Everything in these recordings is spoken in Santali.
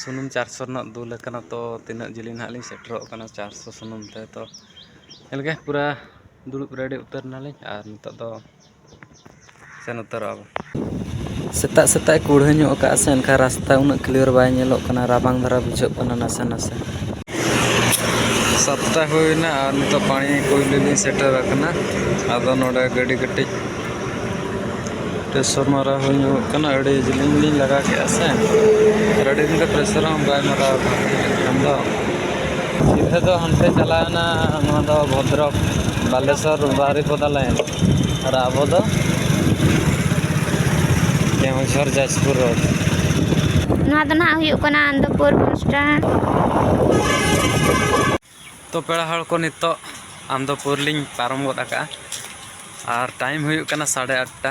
ᱥᱩᱱᱩᱢ ᱪᱟᱨᱥᱚ ᱨᱮᱱᱟᱜ ᱫᱩᱞ ᱟᱠᱟᱱᱟ ᱛᱚ ᱛᱤᱱᱟᱹᱜ ᱡᱤᱞᱤᱧ ᱱᱟᱦᱟᱜ ᱞᱤᱧ ᱥᱮᱴᱮᱨᱚᱜ ᱠᱟᱱᱟ ᱪᱟᱨᱥᱚ ᱥᱩᱱᱩᱢ ᱛᱮ ᱛᱚ ᱧᱮᱞ ᱜᱮ ᱯᱩᱨᱟᱹ ᱫᱩᱲᱩᱵ ᱨᱮᱰᱤ ᱩᱛᱟᱹᱨ ᱱᱟᱞᱤᱧ ᱟᱨ ᱱᱤᱛᱚᱜ ᱫᱚ ᱥᱮᱱ ᱩᱛᱟᱹᱨᱚᱜᱼᱟ ᱵᱚᱱ ᱥᱮᱛᱟᱜ ᱥᱮᱛᱟᱜ ᱠᱩᱲᱦᱟᱹ ᱧᱚᱜ ᱠᱟᱜᱼᱟ ᱥᱮ ᱮᱱᱠᱷᱟᱱ ᱨᱟᱥᱛᱟ ᱩᱱᱟᱹᱜ ᱠᱞᱤᱭᱟᱨ ᱵᱟᱭ ᱧᱮᱞᱚᱜ ᱠᱟᱱᱟ ᱨᱟᱵᱟᱝ ᱫᱷᱟᱨᱟ ᱵᱩᱡᱷᱟᱹᱜ ᱠᱟᱱᱟ ᱱᱟᱥᱮ ᱱᱟᱥᱮ ᱥᱟᱛᱴᱟ ᱦᱩᱭᱱᱟ ᱟᱨ ᱱᱤᱛᱚᱜ ᱯᱟᱱᱤ ᱠᱩᱭ ᱞᱟᱹᱜᱤᱫ ᱤᱧ ᱥᱮᱴᱮᱨ ᱟᱠᱟᱱᱟ ᱟᱫᱚ ᱱᱚᱰᱮ ᱜᱟᱹᱰᱤ ᱠᱟᱹᱴᱤᱡ ᱯᱨᱮᱥᱚᱨ ᱢᱟᱨᱟᱣ ᱦᱩᱭ ᱧᱚᱜᱚᱜ ᱠᱟᱱᱟ ᱟᱹᱰᱤ ᱡᱤᱞᱤᱧ ᱞᱤᱧ ᱞᱟᱜᱟ ᱠᱮᱫᱼᱟ ᱥᱮ ᱟᱨ ᱟᱹᱰᱤ ᱫᱤᱱ ᱫᱚ ᱯᱨᱮᱥᱚᱨ ᱦᱚᱸ ᱵᱟᱭ ᱢᱟᱨᱟᱣ ᱟᱠᱟᱱ ᱮᱱᱠᱷᱟᱱ ᱫᱚ ᱥᱤᱫᱷᱟᱹ ᱫᱚ ᱦᱟᱱᱛᱮ ᱪᱟᱞᱟᱣᱮᱱᱟ ᱱᱚᱣᱟ ᱫᱚ ᱵᱷᱚᱫᱨᱚᱠ ᱵᱟᱞᱮᱥᱚᱨ ᱵᱟᱨᱤᱯᱚᱫᱟ ᱞᱟᱭᱤᱱ ᱟᱨ ᱟᱵᱚ ᱫᱚ ᱠᱮᱣᱡᱷᱟᱨ ᱡᱟᱡᱽᱯᱩᱨ ᱨᱳᱰ ᱱᱚᱣᱟ ᱫᱚ ᱱᱟᱦᱟᱜ ᱦᱩᱭᱩᱜ ᱠᱟᱱᱟ ᱟᱱᱚᱱᱫᱚᱯᱩᱨ ᱵᱚᱥ ᱥᱴᱮᱱᱰ ᱛᱚ ᱯᱮᱲᱟ ᱦᱚᱲ ᱠᱚ ᱱᱤᱛᱚᱜ ᱟᱱᱚᱱᱫᱚᱯᱩᱨ ᱞᱤᱧ ᱯᱟᱨᱚᱢ ᱜᱚᱫ ᱟᱠᱟᱜᱼᱟ ᱟᱨ ᱴᱟᱭᱤᱢ ᱦᱩᱭᱩᱜ ᱠᱟᱱᱟ ᱥᱟᱲᱮ ᱟᱴᱴᱟ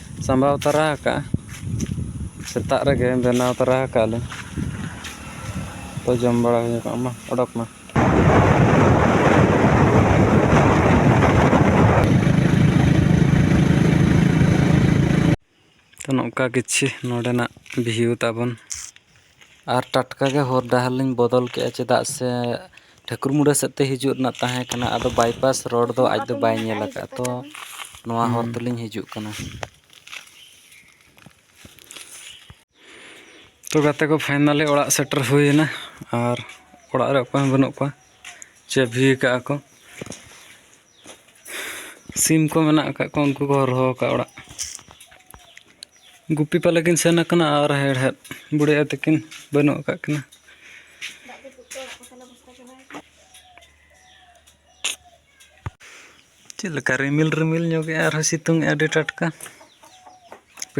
ᱥᱟᱢᱵᱟᱣ ᱛᱟᱨᱟ ᱟᱠᱟᱜᱼᱟ ᱥᱮᱛᱟᱜ ᱨᱮᱜᱮ ᱵᱮᱱᱟᱣ ᱛᱟᱨᱟ ᱟᱠᱟᱜ ᱞᱮ ᱛᱚ ᱡᱚᱢ ᱵᱟᱲᱟ ᱦᱩᱭ ᱠᱚᱜ ᱢᱟ ᱚᱰᱚᱠ ᱢᱮ ᱛᱚ ᱱᱚᱝᱠᱟ ᱠᱤᱪᱷᱤ ᱱᱚᱰᱮᱱᱟᱜ ᱵᱷᱤᱭᱩ ᱛᱟᱵᱚᱱ ᱟᱨ ᱴᱟᱴᱠᱟ ᱜᱮ ᱦᱚᱨ ᱰᱟᱦᱟᱨ ᱞᱤᱧ ᱵᱚᱫᱚᱞ ᱠᱮᱫᱼᱟ ᱪᱮᱫᱟᱜ ᱥᱮ ᱴᱷᱟᱹᱠᱩᱨ ᱢᱩᱸᱰᱟᱹ ᱥᱮᱫ ᱛᱮ ᱦᱤᱡᱩᱜ ᱨᱮᱱᱟᱜ ᱛᱟᱦᱮᱸ ᱠᱟᱱᱟ ᱟᱫᱚ ᱵᱟᱭᱯᱟᱥ ᱨᱳᱰ ᱫᱚ ᱟᱡ ᱫᱚ ᱵᱟᱭ ᱧᱮᱞ ᱟᱠᱟᱫᱼᱟ ᱛᱚ ᱱᱚᱣᱟ ᱦᱚᱨ ᱛᱮᱞᱤᱧ ᱦᱤᱡᱩᱜ ᱠᱟᱱᱟ ᱛᱚ ᱜᱟᱛᱮ ᱠᱚ ᱯᱷᱟᱭᱱᱟᱞᱤ ᱚᱲᱟᱜ ᱥᱮᱴᱮᱨ ᱦᱩᱭᱮᱱᱟ ᱟᱨ ᱚᱲᱟᱜ ᱨᱮ ᱚᱠᱚᱭ ᱦᱚᱸ ᱵᱟᱹᱱᱩᱜ ᱠᱚᱣᱟ ᱪᱟᱹᱵᱷᱤ ᱟᱠᱟᱫᱼᱟ ᱠᱚ ᱥᱤᱢ ᱠᱚ ᱢᱮᱱᱟᱜ ᱟᱠᱟᱫ ᱠᱚᱣᱟ ᱩᱱᱠᱩ ᱠᱚ ᱦᱚᱨᱦᱚ ᱟᱠᱟᱫ ᱚᱲᱟᱜ ᱜᱩᱯᱤ ᱯᱟᱞᱮ ᱠᱤᱱ ᱥᱮᱱ ᱟᱠᱟᱱᱟ ᱟᱨ ᱦᱮᱲᱦᱮᱫ ᱵᱩᱲᱦᱤ ᱟᱭᱳ ᱛᱟᱹᱠᱤᱱ ᱵᱟᱹᱱᱩᱜ ᱟᱠᱟᱫ ᱠᱤᱱᱟ ᱪᱮᱫ ᱞᱮᱠᱟ ᱨᱤᱢᱤᱞ ᱨᱤᱢᱤᱞ ᱧᱚᱜᱮᱜᱼᱟ ᱟᱨᱦᱚᱸ ᱥᱤᱛᱩᱝ ᱟᱹᱰᱤ ᱴᱟᱴᱠᱟ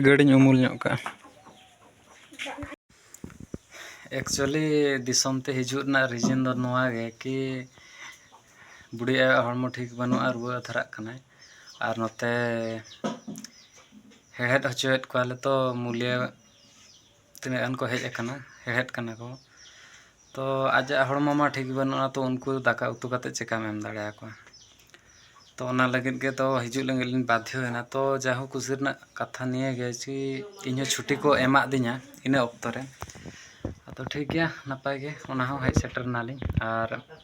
ᱜᱟᱹᱰᱤᱧ ᱩᱢᱩᱞ ᱧᱚᱜ ᱠᱟᱜᱼᱟ ᱮᱠᱪᱩᱭᱮᱞᱤ ᱫᱤᱥᱚᱢ ᱛᱮ ᱦᱤᱡᱩᱜ ᱨᱮᱱᱟᱜ ᱨᱤᱡᱮᱱ ᱫᱚ ᱱᱚᱣᱟ ᱜᱮ ᱠᱤ ᱵᱩᱰᱷᱤ ᱟᱭᱳᱣᱟᱜ ᱦᱚᱲᱢᱚ ᱴᱷᱤᱠ ᱵᱟᱹᱱᱩᱜᱼᱟ ᱨᱩᱣᱟᱹ ᱫᱷᱟᱨᱟᱜ ᱠᱟᱱᱟᱭ ᱟᱨ ᱱᱚᱛᱮ ᱦᱮᱲᱦᱮᱫ ᱦᱚᱪᱚᱭᱮᱫ ᱠᱚᱣᱟᱞᱮ ᱛᱚ ᱢᱩᱞᱭᱟᱹ ᱛᱤᱱᱟᱹᱜ ᱜᱟᱱ ᱠᱚ ᱦᱮᱡ ᱟᱠᱟᱱᱟ ᱦᱮᱲᱦᱮᱫ ᱠᱟᱱᱟ ᱠᱚ ᱛᱚ ᱟᱡᱟᱜ ᱦᱚᱲᱢᱚ ᱢᱟ ᱴᱷᱤᱠ ᱵᱟᱹᱱᱩᱜᱼᱟ ᱛᱚ ᱩᱱᱠᱩ ᱫᱟᱠᱟ ᱩᱛᱩ ᱠᱟᱛᱮᱫ ᱪᱤᱠᱟᱹᱢ ᱮᱢ ᱫᱟᱲᱮ ᱟᱠᱚᱣᱟ ᱛᱚ ᱚᱱᱟ ᱞᱟᱹᱜᱤᱫ ᱜᱮ ᱛᱚ ᱦᱤᱡᱩᱜ ᱞᱟᱹᱜᱤᱫ ᱞᱤᱧ ᱵᱟᱫᱽᱫᱷᱚᱭᱮᱱᱟ ᱛᱚ ᱡᱟ ᱦᱳᱠ ᱠᱩᱥᱤ ᱨᱮᱱᱟᱜ ᱠᱟᱛᱷᱟ ᱱᱤᱭᱟᱹ ᱜᱮ ᱡᱮ ᱤᱧ ᱦᱚᱸ ᱪᱷᱩᱴᱤ ᱠᱚ ᱮᱢᱟᱫᱤᱧᱟ ᱤᱱᱟᱹ ᱚᱠᱛᱚ ᱨᱮ ᱟᱫᱚ ᱴᱷᱤᱠ ᱜᱮᱭᱟ ᱱᱟᱯᱟᱭ ᱜᱮ ᱚᱱᱟ ᱦᱚᱸ ᱦᱮᱡ ᱥᱮᱴᱮᱨ ᱱᱟᱞᱤᱧ ᱟᱨ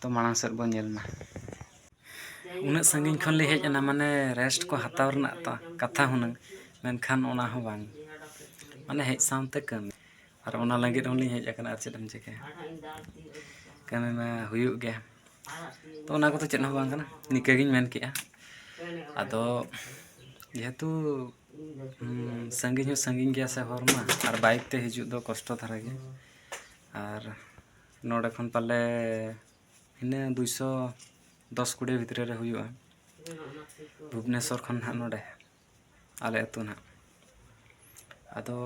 ᱛᱚ ᱢᱟᱲᱟᱝ ᱥᱮᱫ ᱵᱚᱱ ᱧᱮᱞ ᱢᱟ ᱩᱱᱟᱹᱜ ᱥᱟᱺᱜᱤᱧ ᱠᱷᱚᱱ ᱞᱤᱧ ᱦᱮᱡ ᱮᱱᱟ ᱢᱟᱱᱮ ᱨᱮᱥᱴ ᱠᱚ ᱦᱟᱛᱟᱣ ᱨᱮᱱᱟᱜ ᱛᱚ ᱠᱟᱛᱷᱟ ᱦᱩᱱᱟᱹᱝ ᱢᱮᱱᱠᱷᱟᱱ ᱚᱱᱟ ᱦᱚᱸ ᱵᱟᱝ ᱢᱟᱱᱮ ᱦᱮᱡ ᱥᱟᱶᱛᱮ ᱠᱟᱹᱢᱤ ᱟᱨ ᱚᱱᱟ ᱞᱟᱹᱜᱤᱫ ᱦᱚᱸ ᱞᱤᱧ ᱦᱮᱡ ᱟᱠᱟᱱᱟ ᱟᱨ ᱪᱮᱫ ᱮᱢ ᱪᱤᱠᱟᱹᱭᱟ ᱠᱟᱹᱢᱤ ᱢᱟ ᱦᱩᱭᱩᱜ ᱜᱮᱭᱟ ᱛᱚ ᱚᱱᱟ ᱠᱚᱫᱚ ᱪᱮᱫ ᱦᱚᱸ ᱵᱟᱝ ᱠᱟᱱᱟ ᱱᱤᱝᱠᱟᱹ ᱜᱤᱧ ᱢᱮᱱ ᱠᱮᱫᱼᱟ ᱟᱫᱚ ᱡᱮᱦᱮᱛᱩ ᱥᱟᱺᱜᱤᱧ ᱦᱚᱸ ᱥᱟᱺᱜᱤᱧ ᱜᱮᱭᱟ ᱥᱮ ᱦᱚᱨ ᱢᱟ ᱟᱨ ᱵᱟᱭᱤᱠ ᱛᱮ ᱦᱤᱡᱩᱜ ᱫᱚ ᱠᱚᱥᱴᱚ ᱫᱷᱟᱨᱟ ᱜᱮᱭᱟ ᱟᱨ ᱱᱚᱰᱮ ᱠᱷᱚᱱ ᱯᱟᱞᱮ ᱤᱱᱟᱹ ᱫᱩᱭᱥᱚ ᱫᱚᱥ ᱠᱩᱲᱤ ᱵᱷᱤᱛᱨᱤ ᱨᱮ ᱦᱩᱭᱩᱜᱼᱟ ᱵᱷᱩᱵᱽᱱᱮᱥᱚᱨ ᱠᱷᱚᱱ ᱦᱟᱸᱜ ᱱᱚᱰᱮ ᱟᱞᱮ ᱟᱹᱛᱩ ᱦᱟᱸᱜ ᱟᱫᱚ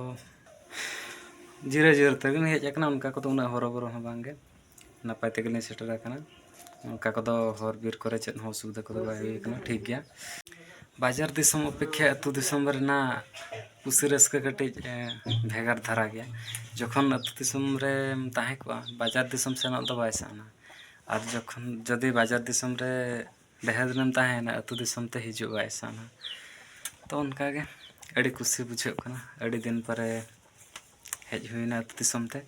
ᱡᱤᱨᱟᱹᱣ ᱡᱤᱨᱟᱹᱣ ᱛᱮᱜᱮᱞᱤᱧ ᱦᱮᱡ ᱠᱟᱱᱟ ᱚᱱᱠᱟ ᱠᱚᱫᱚ ᱩᱱᱟᱹᱜ ᱦᱚᱨᱚᱵᱚᱨᱚ ᱦᱚᱸ ᱵᱟᱝᱜᱮ ᱱᱟᱯᱟᱭ ᱛᱮᱜᱮᱞᱤᱧ ᱥᱮᱴᱮᱨ ᱠᱟᱱᱟ ᱚᱱᱠᱟ ᱠᱚᱫᱚ ᱦᱚᱨ ᱵᱤᱨ ᱠᱚᱨᱮ ᱪᱮᱫ ᱦᱚᱸ ᱚᱥᱩᱵᱤᱫᱷᱟ ᱠᱚᱫᱚ ᱵᱟᱭ ᱦᱩᱭ ᱠᱟᱱᱟ ᱴᱷᱤᱠ ᱜᱮᱭᱟ ᱵᱟᱡᱟᱨ ᱫᱤᱥᱚᱢ ᱚᱯᱮᱠᱠᱷᱟ ᱟᱹᱛᱩ ᱫᱤᱥᱚᱢ ᱨᱮᱱᱟᱜ ᱠᱩᱥᱤ ᱨᱟᱹᱥᱠᱟᱹ ᱠᱟᱹᱴᱤᱡ ᱵᱷᱮᱜᱟᱨ ᱫᱷᱟᱨᱟ ᱜᱮᱭᱟ ᱡᱚᱠᱷᱚᱱ ᱟᱹᱛᱩ ᱫᱤᱥᱚᱢ ᱨᱮᱢ ᱛᱟᱦᱮᱸ ᱠᱚᱜᱼᱟ ᱵᱟᱡᱟᱨ ᱫᱤᱥᱚᱢ ᱥᱮᱱᱚᱜ ᱫᱚ ᱵᱟᱭ ᱥᱟᱱᱟ ᱟᱨ ᱡᱚᱠᱷᱚᱱ ᱡᱩᱫᱤ ᱵᱟᱡᱟᱨ ᱫᱤᱥᱚᱢ ᱨᱮ ᱰᱷᱮᱨ ᱫᱤᱱᱮᱢ ᱛᱟᱦᱮᱸᱭᱮᱱᱟ ᱟᱹᱛᱩ ᱫᱤᱥᱚᱢ ᱛᱮ ᱦᱤᱡᱩᱜ ᱵᱟᱭ ᱥᱟᱱᱟ ᱛᱚ ᱚᱱᱠᱟᱜᱮ ᱟᱹᱰᱤ ᱠᱩᱥᱤ ᱵᱩᱡᱷᱟᱹᱜ ᱠᱟᱱᱟ ᱟᱹᱰᱤ ᱫᱤᱱ ᱯᱚᱨᱮ ᱦᱮᱡ ᱦᱩᱭᱱᱟ ᱟᱹᱛᱩ ᱫᱤᱥᱚᱢ ᱛᱮ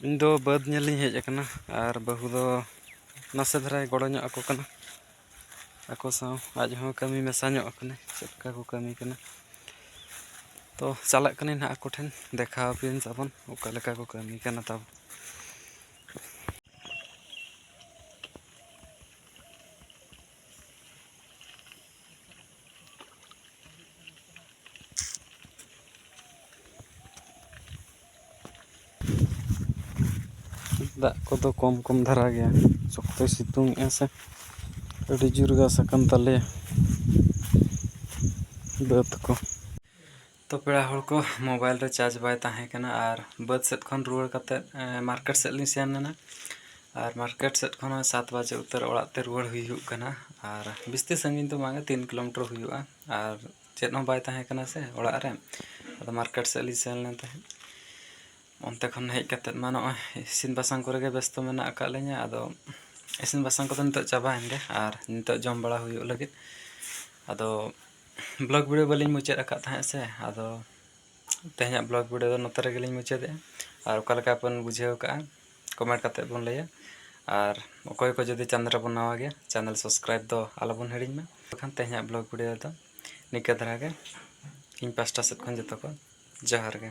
ᱤᱧ ᱫᱚ ᱵᱟᱹᱫᱽ ᱧᱮᱞ ᱤᱧ ᱦᱮᱡ ᱟᱠᱟᱱᱟ ᱟᱨ ᱵᱟᱹᱦᱩ ᱫᱚ ᱱᱟᱥᱮ ᱫᱷᱟᱨᱟᱭ ᱜᱚᱲᱚ ᱧᱚᱜ ᱟᱠᱚ ᱠᱟᱱᱟ ᱟᱠᱚ ᱥᱟᱶ ᱟᱡ ᱦᱚᱸ ᱠᱟᱹᱢᱤ ᱢᱮᱥᱟ ᱧᱚᱜ ᱟᱠᱟᱱᱟᱭ ᱪᱮᱫ ᱞᱮᱠᱟ ᱠᱚ ᱠᱟᱹᱢᱤ ᱠᱟᱱᱟ ᱛᱚ ᱪᱟᱞᱟᱜ ᱠᱟᱹᱱᱟᱹᱧ ᱱᱟᱦᱟᱜ ᱟᱠᱚ ᱴᱷᱮᱱ ᱫᱮᱠᱷᱟᱣ ᱟᱯᱮᱭᱟᱹᱧ ᱛᱟᱵᱚᱱ ᱚᱠᱟ ᱞᱮᱠᱟ ᱠᱚ ᱠᱟᱹᱢᱤ ᱠᱟᱱᱟ ᱛᱟᱵᱚᱱ ᱫᱟᱜ ᱠᱚᱫᱚ ᱠᱚᱢ ᱠᱚᱢ ᱫᱷᱟᱨᱟ ᱜᱮᱭᱟ ᱥᱚᱠᱛᱚᱭ ᱥᱤᱛᱩᱝ ᱮᱜᱼᱟ ᱥᱮ ᱟᱹᱰᱤ ᱡᱳᱨ ᱜᱷᱟᱥ ᱟᱠᱟᱱ ᱛᱟᱞᱮᱭᱟ ᱵᱟᱹᱫᱽ ᱠᱚ ᱛᱚ ᱯᱮᱲᱟ ᱦᱚᱲ ᱠᱚ ᱢᱳᱵᱟᱭᱤᱞ ᱨᱮ ᱪᱟᱨᱡᱽ ᱵᱟᱭ ᱛᱟᱦᱮᱸ ᱠᱟᱱᱟ ᱟᱨ ᱵᱟᱹᱫᱽ ᱥᱮᱫ ᱠᱷᱚᱱ ᱨᱩᱣᱟᱹᱲ ᱠᱟᱛᱮᱫ ᱢᱟᱨᱠᱮᱴ ᱥᱮᱫ ᱞᱤᱧ ᱥᱮᱱ ᱞᱮᱱᱟ ᱟᱨ ᱢᱟᱨᱠᱮᱴ ᱥᱮᱫ ᱠᱷᱚᱱ ᱦᱚᱸ ᱥᱟᱛ ᱵᱟᱡᱮ ᱩᱛᱟᱹᱨ ᱚᱲᱟᱜ ᱛᱮ ᱨᱩᱣᱟᱹᱲ ᱦᱩᱭᱩᱜ ᱠᱟᱱᱟ ᱟᱨ ᱵᱤᱥᱛᱤ ᱥᱟᱺᱜᱤᱧ ᱫᱚ ᱵᱟᱝᱟ ᱛᱤᱱ ᱠᱤᱞᱳᱢᱤᱴᱟᱨ ᱦᱩᱭᱩᱜᱼᱟ ᱟᱨ ᱪᱮᱫ ᱦᱚᱸ ᱵᱟᱭ ᱛᱟᱦᱮᱸ ᱠᱟᱱᱟ ᱥᱮ ᱚᱲᱟᱜ ᱨᱮ ᱟᱫᱚ ᱢᱟᱨᱠᱮᱴ ᱥᱮᱫ ᱞᱤᱧ ᱥᱮᱱ ᱞᱮᱱ ᱛᱟᱦᱮᱸᱫ ᱚᱱᱛᱮ ᱠᱷᱚᱱ ᱦᱮᱡ ᱠᱟᱛᱮᱫ ᱢᱟ ᱱᱚᱜᱼᱚᱭ ᱤᱥᱤᱱ ᱵᱟᱥᱟᱝ ᱠᱚᱨᱮ ᱜᱮ ᱵᱮᱥᱛᱚ ᱢᱮᱱᱟᱜ ᱟᱠᱟᱫ ᱞᱤᱧᱟᱹ ᱟᱫᱚ ᱤᱥᱤᱱ ᱵᱟᱥᱟᱝ ᱠᱚᱫᱚ ᱱᱤᱛᱚᱜ ᱪᱟᱵᱟᱭᱮᱱ ᱜᱮ ᱟᱨ ᱱᱤᱛᱚᱜ ᱡᱚᱢ ᱵᱟᱲᱟ ᱦᱩᱭᱩᱜ ᱞᱟᱹᱜᱤᱫ ᱟᱫᱚ ᱵᱞᱚᱜᱽ ᱵᱷᱤᱰᱤᱭᱳ ᱵᱟᱹᱞᱤᱧ ᱢᱩᱪᱟᱹᱫ ᱟᱠᱟᱫ ᱛᱟᱦᱮᱸᱫ ᱥᱮ ᱟᱫᱚ ᱛᱮᱦᱮᱧᱟᱜ ᱵᱞᱚᱜᱽ ᱵᱷᱤᱰᱤᱭᱳ ᱫᱚ ᱱᱚᱛᱮ ᱨᱮᱜᱮᱞᱤᱧ ᱢᱩᱪᱟᱹᱫᱮᱜᱼᱟ ᱟᱨ ᱚᱠᱟ ᱞᱮᱠᱟ ᱵᱚᱱ ᱵᱩᱡᱷᱟᱹᱣ ᱠᱟᱜᱼᱟ ᱠᱚᱢᱮᱱᱴ ᱠᱟᱛᱮ ᱵᱚᱱ ᱞᱟᱹᱭᱟ ᱟᱨ ᱚᱠᱚᱭ ᱠᱚ ᱡᱩᱫᱤ ᱪᱮᱱᱮᱞ ᱨᱮᱵᱚᱱ ᱱᱟᱣᱟ ᱜᱮᱭᱟ ᱪᱮᱱᱮᱞ ᱥᱟᱵᱥᱠᱨᱟᱭᱤᱵ ᱫᱚ ᱟᱞᱚᱵᱚᱱ ᱦᱤᱲᱤᱧ ᱢᱟ ᱵᱟᱠᱷᱟᱱ ᱛᱮᱦᱮᱧᱟᱜ ᱵᱞᱚᱜᱽ ᱵᱷᱤᱰᱤᱭᱳ ᱫᱚ ᱱᱤᱝᱠᱟᱹ ᱫᱷᱟᱨᱟ ᱜᱮ ᱤᱧ ᱯᱟᱥᱴᱟ ᱥᱮᱫ ᱠᱷᱚᱱ ᱡᱚᱛᱚ ᱠᱚ ᱡᱚᱦᱟᱨ ᱜᱮ